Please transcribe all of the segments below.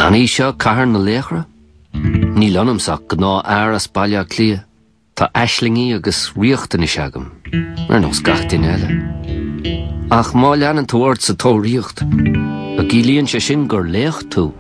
An í seo Cathair na Laochra? Níl ionamsa ach gnáthfhear as Baile Átha Cliath. Tá aislingí agus riachtanais agam, ar nós gach duine eile. Ach má leanann tú ort sa tóraíocht, an gciallaíonn sé sin gur laoch tú?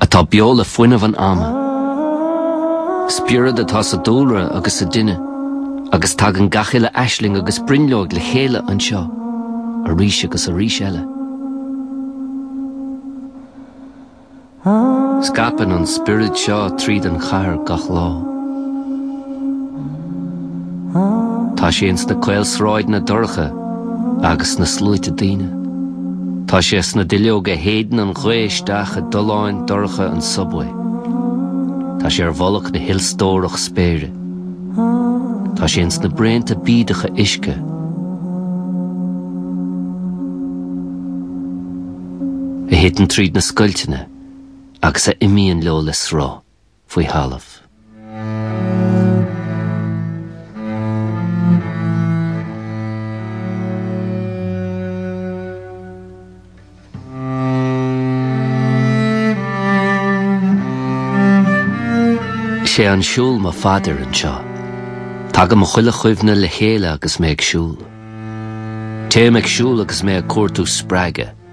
Atá beo le fuinneamh an ama. Spiorad atá sa dúlra agus sa duine agus tagann gach uile aisling agus brionglóid le chéile anseo arís agus arís eile. Scaipeann an spiorad seo tríd an chathair gach lá. Tá sé ins na caol sráideanna dorcha agus sna sluaite daoine. Tá sé sna duilleoga a shéideann an ghaoth isteach i dtolláin dorcha an subway. Tá sé ar mhullach na hilstórach spéire. Tá sé ins na braonta bídeacha uisce. A thiteann tríd na scoilteanna agus a imíonn leo le sruth. faoi thalamh. Sé an siúl mo phaidir anseo. Tagann mo chuile chuimhne le chéile agus mé ag siúl. Téim ag siúl agus mé ag cuartú spreagadh.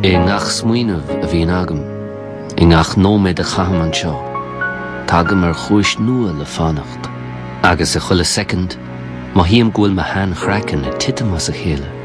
I ngach smaoineamh a bhíonn agam, i ngach nóiméad a chaithim anseo, tagaim ar chúis nua le fanacht. Agus i chuile soicind, mothaím go bhfuil mo shean-chraiceann ag titim as a chéile.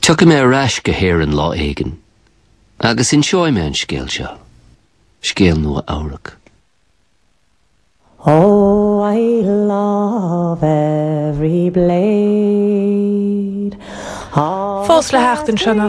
Tiocfaidh mé ar ais go hÉirinn lá éigin agus inseoidh mé an scéal seo, scéal Nua Eabhrac. Oh, I love every blade of... Fós le theacht an sean-fhocal.